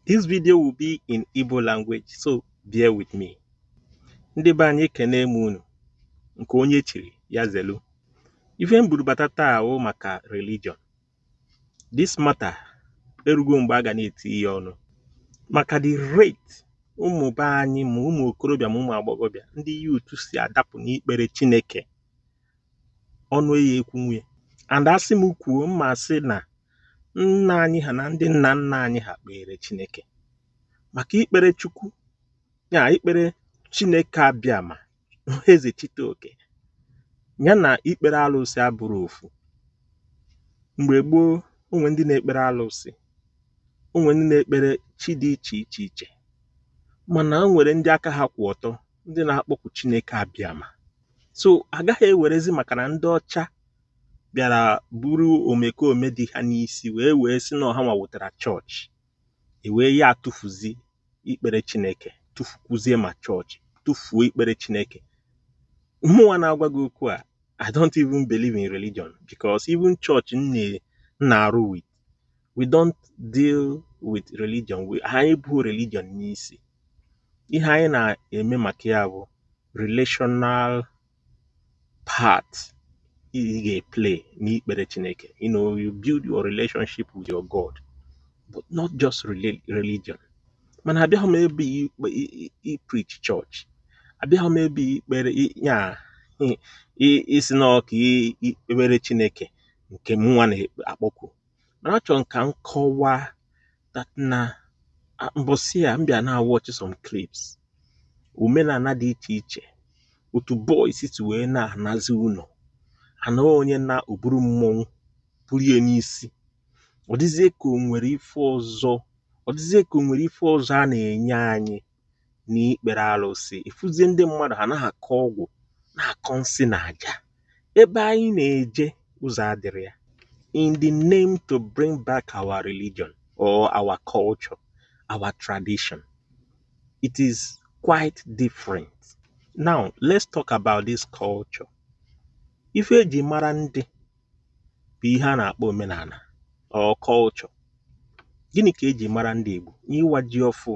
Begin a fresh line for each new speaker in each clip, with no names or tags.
This video will be in Igbo language, so bear with me. Ndị be anyị ekene m unu nke onye chiri ya zelu. Ife m buru bata taa ọ maka religion. This matter erugo mgbe a ga na-etinye ọnụ maka the rate ụmụ be anyị ma ụmụ okorobịa ma ụmụ agbọghọbịa ndị youth si adapụ n'ikpere Chineke ọnụ eya ekwunwu ya and asị m kwuo m ma-asị na nna anyị ha na ndị nna nna anyị ha kpere Chineke maka ikpere Chukwu ya ikpere Chineke Abịama eze chite oke ya na ikpere alụsị abụrọ ofu mgbe gboo o nwee ndị na-ekpere alụsị o nwee ndị na-ekpere chi dị iche iche iche mana o nwere ndị aka ha kwụ ọtọ ndị na-akpọku Chineke Abịama so a gaghị ewerezi maka na ndị ọcha bịara buru omekome dị ha n'isi wee wee sị na ọ hanwa wetara chọọchị e wee ya tụfuzi ikpere chineke tụfukwuzie ma chọọchị tụfuo ikpere chineke mụnwa na-agwa gị okwu a i don't even believe in religion because even church m na-arụ with we don't deal with religion we anyị bu religion n'isi ihe anyị na-eme maka ya bụ relational part ị ga-eplay n'ikpere Chineke you know you build your relationship with your God but not just reli- religion mana abịaghị m ebe ikpe i- i- preach church abịaghị m ebe ikpere i- ya i- i- ịsị na ọ ka i- ikpere Chineke nke mụnwa na-akpọku mana achọrọ m ka m kọwaa that na mbọsị a m bịa na-awatch some clips omenala dị iche iche otu boys si wee na-anazi ụlọ anaa onye naa o buru mmọnwụ buru ya n'isi ọ dịzie ka o nwere ife ọzọ ọ dịzie ka o nwere ife ọzọ a na-enye anyị n'ikpere alụsị ị fụzie ndị mmadụ ha na-akọ ọgwụ na-akọ nsị na aja ebe anyị na-eje ụzọ adịrị ya in the name to bring back our religion or our culture our tradition it is quite different now let's talk about this culture ife eji mara ndị bụ ihe a na-akpọ omenala or culture gịnị ka eji mara ndị Igbo n'iwa ji ọfụụ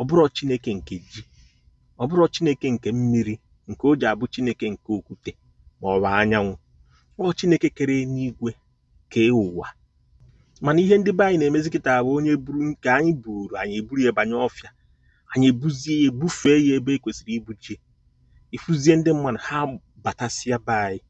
ọ bụrọ chineke nke ji ọ bụrọ chineke nke mmiri nke o ji abụ chineke nke okwute ma ọ bụ anyanwụ ọ chineke kere enigwe kee ụwa mana ihe ndị be anyị na-emezi kịta bụ onye buru nke anyị buuru anyị eburu ya banye ọfịa anyị ebuzie ya ebufee ya ebe e kwesịrị ibuje ị fụzie ndị mmadụ ha batasịa be anyị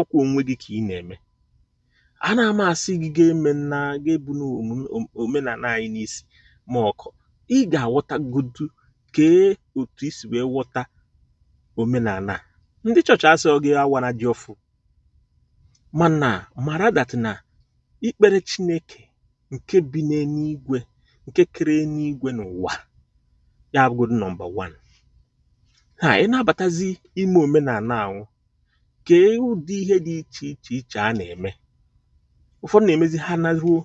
ọkwa onwe gị ka ị na-eme anaa m asị gị gị emena gị ebuna omenala anyị n'isi ma ọkwa ị ga-aghọtagodu kee otu i si wee ghọta omenala ndị chọọchị asịọ gị awana ji ọfụụ mana mara that na ikpere chineke nke bi n'eluigwe nke kere eluigwe na ụwa ya abụgodu number one ha ị na-abatazi ime omenala ahụ kee ụdị ihe dị iche iche iche a na-eme ụfọdụ na-emezi ha naruo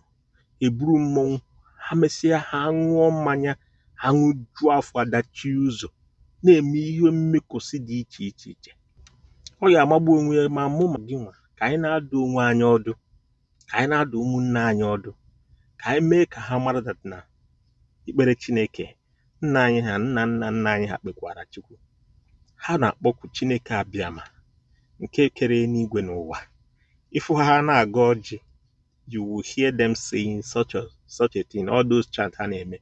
e buru mmọnwụ ha mesịa ha aṅụọ mmanya ha aṅụjuo afọ adachie ụzọ na-eme ihe mmekosi dị iche iche iche ọ ya amagbu onwe ya ma mụ ma gịnwa ka anyị na-adụ onwe anyị ọdụ ka anyị na-adụ ụmụnne anyị ọdụ ka anyị mee ka ha mara that na ikpere Chineke nna anyị ha nna nna nna anyị ha kpekwara Chukwu ha na-akpọku Chineke abịama nke kere eluigwe na ụwa ị fụ ha ha na-agọ ọjị you will hear them saying chanting all those chant ha na-eme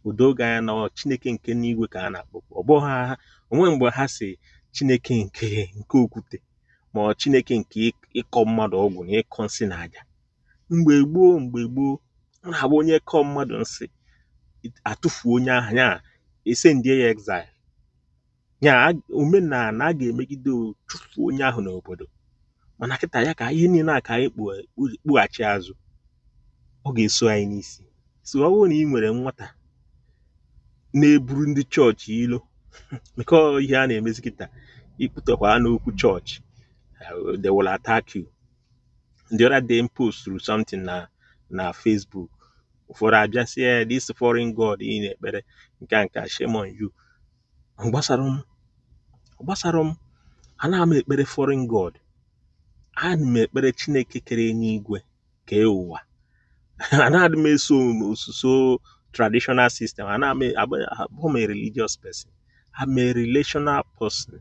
o doo gị anya na Chineke nke n'igwe ka ha na-akpọku ọ bụghị ha o nwe mgbe ha sị Chineke nke nke okwute ma ọ Chineke nke ịkọ mmadụ ọgwụ na ịkọ nsi na aja mgbe gboo mgbe gboo ọ na-abụ onye kọọ mmadụ nsi a tụfuo onye ahụ ya e sendie ya exile ya omenala a ga-emegide chụfuo onye ahụ n'obodo mana kịta ya ka ihe niile a ka anyị kpụghachi azụ ọ ga-eso anyị n'isi so ọ bụrụ na ị nwere nwata na-eburu ndị chọọchị ilo maka ọ ihe a na-emezi kịta ị kpụtakwana okwu chọọchị they will attack you the other day m posturu something na na Facebook ụfọdụ abịa sị eh this foreign god ị na-ekpere nke a nke a shame on you Ọ gbasara m ọ gbasara m anaa m ekpere foreign god ana m ekpere chineke kere enigwe kee ụwa anaghị m eso osuso traditional system ana m abụ abụọ m a religious person I'm a relational person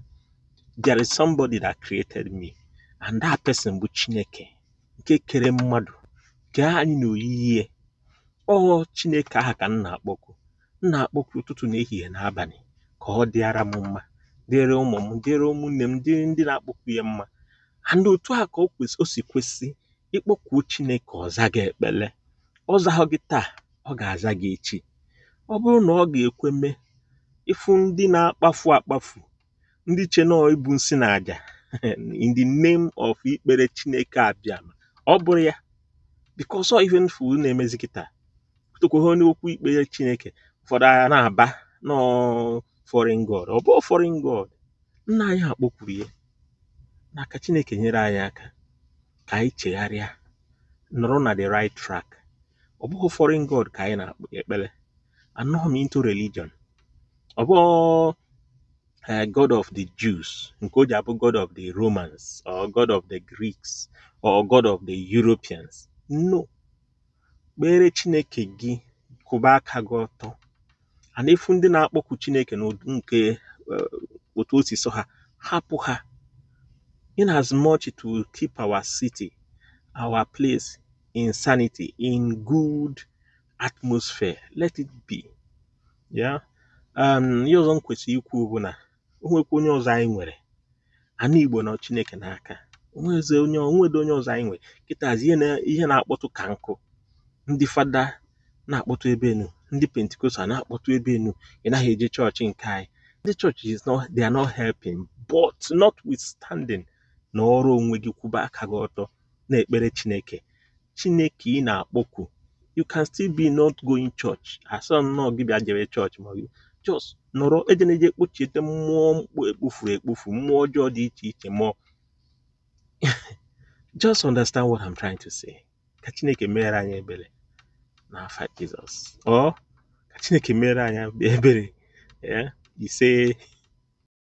there is somebody that created me and that person bụ chineke nke kere mmadụ kee anyị n'oyiyi ya ọ chineke ahụ ka m na-akpọku m na-akpọku ụtụtụ na ehihie na abalị ka ọ dịara m mma dịrị ụmụ m dịrị ụmụnne m dịrị ndị na-akpọku ya mma and otu a ka o si kwesị ị kpọkuo chineke ọ zaa gị ekpele ọ zahụ gị taa ọ ga-aza gị echi ọ bụrụ na ọ ga-ekwe mee ị fụ ndị na-akpafu akpafu ndị che na ibu nsi na aja in the name of ikpere chineke abịa ọ bụrụ ya because ọ ife m fụ na-emezi kịta tụkwuo onye okwu ikpere chineke ụfọdụ ha na-aba na ọ foreign god ọ bụ foreign god nna anyị ha kpọkuru ya na ka chineke nyere anyị aka ka anyị chegharịa nọrọ na the right track ọ bụghị foreign god ka anyị na-ekpe ekpere anọghị m into religion ọ bụ eh, god of the Jews nke o ji abụ god of the Romans or god of the Greeks or god of the Europeans no kpere Chineke gị kwụba aka gị ọtọ and ị fụ ndị na-akpọku Chineke n'ụdị nke eh, otu o si sọ ha hapụ ha in as much to keep our city our place in sanity in good atmosphere let it be ya um, ihe ọzọ m kwesịrị ikwu bụ na o nwekwa onye ọzọ anyị nwere ana Igbo nọ Chineke n'aka o nwezi onye o nwedị onye ọzọ anyị nwere kịtazi ihe na ihe na-akpọtụ ka nkụ ndị fada na-akpọtụ ebe enu ndị pentikostal na-akpọtụ ebe enu ị naghị eje chọọchị nke anyị ndị chọọchị is not they are not helping but notwithstanding nọọrọ onwe gị kwụba aka gị ọtọ na-ekpere Chineke Chineke ị na-akpọku you can still be not going church ọ sọ nnọọ gị bịa jere chọọchị ma just nọrọ ejena eje kpochiete mmụọ mkpu e kpofuru ekpofu mmụọ ọjọọ dị iche iche mmụọ just understand what I'm trying to say ka Chineke mere anyị ebere n'afa Jizọs o ka Chineke mere anyị ebere ise